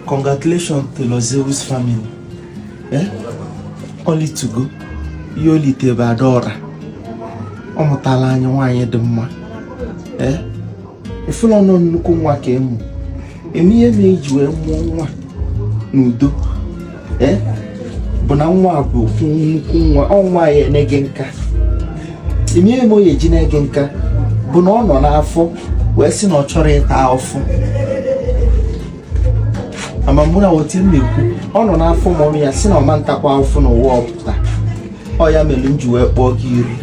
Congratulations to Lord Zeus family. Eh? O litugo. Ihe o lite bụ Adaora. Ọ mụtala anyị nwaanyị dị mma. Eh? Ị fụlọ na ọ nnukwu nwa ka a mụ. Ị ma ihe me e ji wee mụọ nwa n'udo. eh? bụ na nwa bụ nnukwu nwa ọ nwa ya na-ege nka ị ma ihe me ọ ya-eji na-ege nka bụ na ọ nọ n'afọ wee sị na ọ chọrọ ịta afụfụ ama mụ na-awọta ihe m na-ekwu ọ nọ n'afọ mummy ya sị na ọ ma-atakwa afụfụ n'ụwa ọ pụta ọ ya mere m ji wee kpọọ gị iri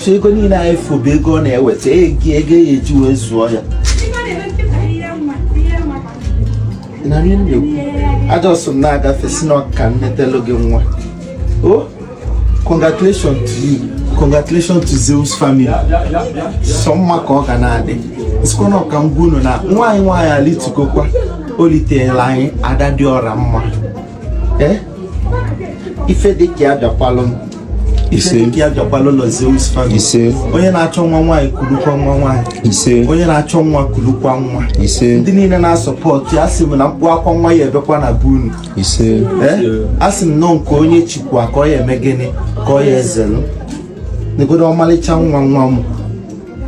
so ego niile anyị fụ bụ ego ọ na-eweta ego ego a ya-eji wee zụọ ya a just m na-agafe sị na ọ ka m netelu gị nwa o congratulation to you congratulation to Zeus family sọ mma ka ọ ga na-adị sịkwa na ọ ka m gwa unu na nwaanyị nwaanyị alitugokwa o liteela anyị ada dị ọra mma eh? ife dị ka ya bịakwalụ m ise nke ya bịakwalụ Lord Zeus family ise onye na-achọ nwa nwaanyị kulukwa nwa nwaanyị ise onye na-achọ nwa kulukwa nwa ise ndị niile na-asupport ya a sị m na mkpu akwa nwa ya-ebekwa na be unu ise eh? a sị m na ọ nke onye chikwa ka ọ ya-eme gịnị ka ọ ya-ezelụ negodo ọmalịcha nwa nwa m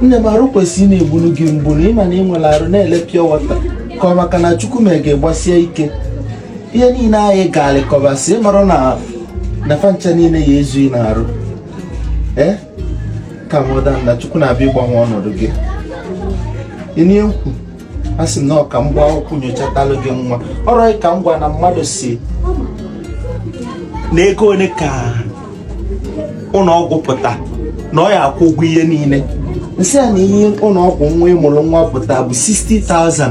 nne m arụ kwesịrị na-egbunu gị mgbu na ị ma na ị nwere arụ na-ele pịọ wọta ka ọ maka na chukwu me ị ga-agbasi ike ihe niile anyị gaarị kọbasị ịmarụ na na fancha niile ya-ezu ị n'arụ ee eh? calm down na chukwu na-abịa ịgbanwe ọnọdụ gị ị nụ ihe m kwu a sị m na ọ ka m gbakọkwa nyochatalụ gị nwa ọrụ ka m gwa na mmadụ sị na ego ole ka ụlọ ọgwụ pụta na ọ ya-akwụ ụgwọ ihe niile m sị ya na ihe ụlọ ọgwụ nwa ị mụrụ nwa pụta bụ 60,000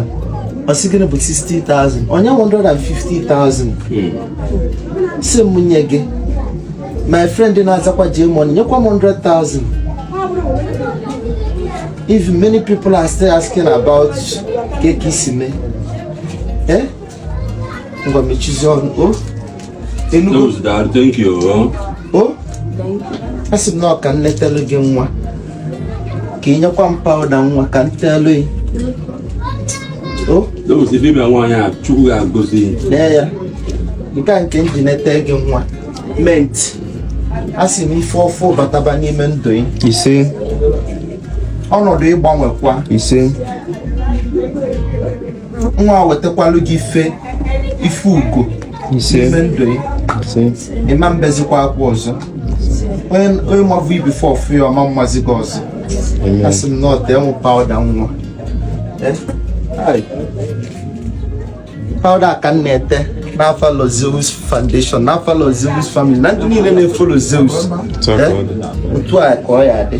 ọ sị gịnị bụ 60,000 o nye 150,000 sị m nye gị my friend na-azakwa J Money nyekwa m 100,000 if many people are still asking about kee ka e si me eh ngwa mechizie ọnụ o ị nụgo Those that thank you. oh. o a sị m na ọ ka m letelu gị nwa ka ị nyekwa m powder nwa ka m teelu gị o Those the people nwaanyị a Chukwu ga-agọzi. lee ya nke a nke m ji nete gị nwa mint a sị m ife ọfụ bataba n'ime ndụ gị ise ọnọdụ ị gbanwekwa ise nwa wetakwalu gị ife ife ugo n'ime ndụ ị ị ma mbezikwa akwa ọzọ onye mavụ ị before ọ fụ ya ọ ma mmazi gị ọzọ asị m na ọ tee mụ powder nwa eh? powder ka m na-ete n'afa ụlọ Zeus Foundation n'afa ụlọ Zeus family na ndị niile na-efolo Zeus eh? otu a ka ọ ya adị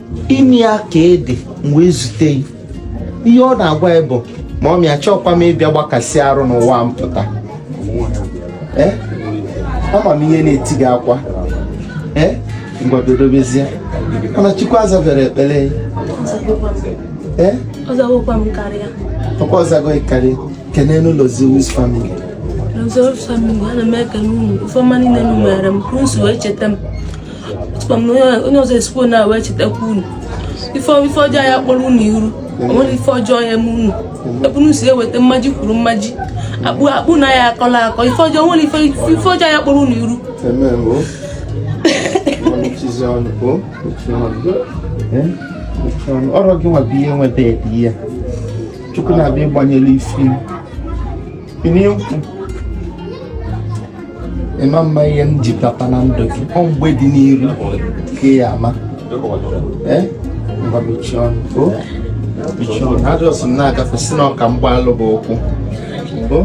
ime ya ka ị dị m wee zute ị ihe ọ na-agwa ị bụ mummy achọọkwa m ịbịa gbakasị arụ n'ụwa m pụta Eh? ama m ihe na-eti gị akwa Eh? ngwa dodobezie mana chukwu azabere ekpere ya. Eh? Ọ zagokwa m karịa. ọkwa ọ zago ị karịa kene n'ụlọ Zeus family Zeus family, ana m ekene unu. Ife ọma niile unu mere m, unu si wee cheta m. onye ọzọ esikwo na wee chetakwa unu ife ọjọọ ya kpọrọ unu iru o nwere ife ọjọọ ya eme unu ebe unu si eweta mmaji kwuru mmaji akpa unu ya akọla akọ ife ọjọọ nwere ife ọjọọ ya kpọrọ unu iru ọrụ gị nwa bụ ihe nweta ya chukwu na-abịa ịgbanyere isi Ini yung ị ma ama ihe m ji papa na ndụ gị ọ mgbe dị n'iru ka ị ya ama ee ngwa mechie ọnụ o mechie ọnụ ha just m na-agafe si na ọka mgbalụ bụ ụkwụ o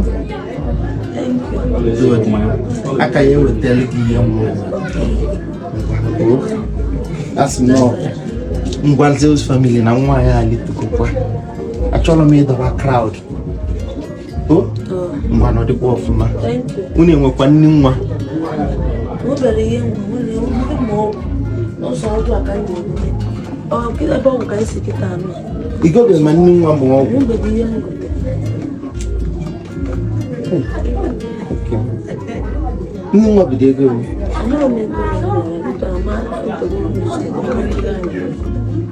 aka ya ewetara gị ihe nwa o asị m na ngwa Zeus family na nwa ya alịtukokwa achọrọ m ịdọba crowd ngwanụ dịkwa ọfụma unu enwekwa nni nwa ị gobe ma nni nwa bụ ọgwụ nni nwa bụ ego